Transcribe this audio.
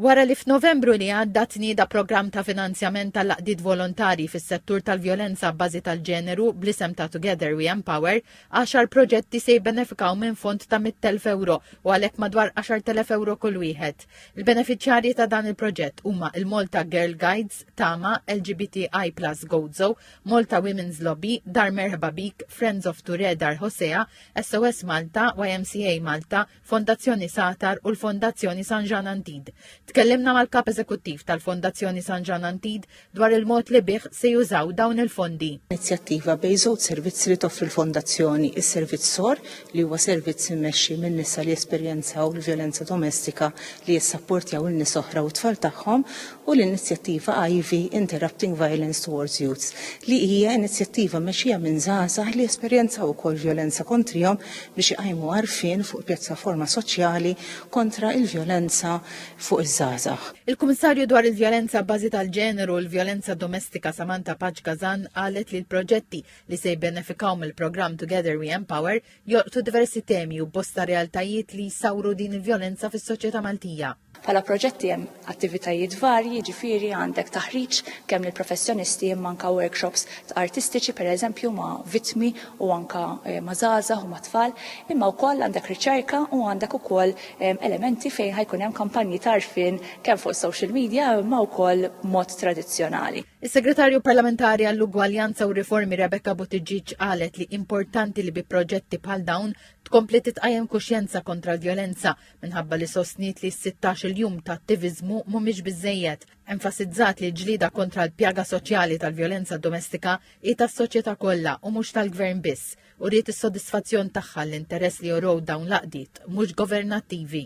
Wara li f'Novembru li għadda tnieda programm ta' finanzjament tal-għaqdiet volontarji fis-settur tal-vjolenza abbażi tal-ġeneru bl-isem ta' Together We Empower, għaxar proġetti se jibbenefikaw minn fond ta' mitt elf ewro u għalhekk madwar għaxart elef ewro kull wieħed. Il-benefiċjarji ta' dan il-proġett huma il-Malta Girl Guides, Tama, LGBTI Plus Gozo, Malta Women's Lobby, Dar Merħba Bik, Friends of Ture Dar Hosea, SOS Malta, YMCA Malta, Fondazzjoni Satar u l-Fondazzjoni San Ġan Antid. Tkellimna mal-Kap Eżekuttiv tal-Fondazzjoni San Ġan Antid dwar il-mod li bih se jużaw dawn il-fondi. Inizjattiva bej żewġ servizzi li toffri l-Fondazzjoni, is-servizz sor li huwa servizz immexxi minn nisa li jesperjenzaw l-vjolenza domestika li jissapportjaw il-nies oħra u t-tfal tagħhom u l-inizjattiva Ivy, Interrupting Violence Towards Youths, li hija inizjattiva mmexxija minn żgħażagħ li esperjenzaw ukoll vjolenza kontrihom biex iqajmu għarfien fuq pjattaforma soċjali kontra l-vjolenza fuq iż-żgħażagħ. Il-Kummissarju dwar il-Vjolenza abbażi tal-Ġeneru u l-Vjolenza Domestika Samantha Paċ Gazan qalet li l-proġetti li se jibbenefikaw mill-programm Together We Empower jolqtu diversi temi u bosta realtajiet li jsawru din il-vjolenza fis-soċjetà Maltija. Bħala proġetti hemm attivitajiet varji, jiġifieri għandek taħriġ kemm lill-professjonisti imma anke workshops artistiċi pereżempju ma' vittmi u anke ma' żgħażagħ u ma' tfal, imma wkoll għandek riċerka u għandek ukoll elementi fejn ħa jkun hemm kampanji ta' għarfien kemm fuq is-social media imma wkoll b'mod tradizzjonali. Is-Segretarju Parlamentari għall-Ugwaljanza u Riformi Rebecca Buttigieg qalet li importanti li bi proġetti bħal dawn tkompli titqajjem kuxjenza kontra l-vjolenza minħabba li sostniet li s-16-il jum ta' attiviżmu mhumiex biżżejjed, enfasizzat li l-ġlieda kontra l-pjaga soċjali tal-vjolenza domestika hi tas-soċjetà kollha u mhux tal-Gvern biss, u riet is-sodisfazzjon tagħha l-interess li jorow dawn l-għaqdiet mhux governattivi.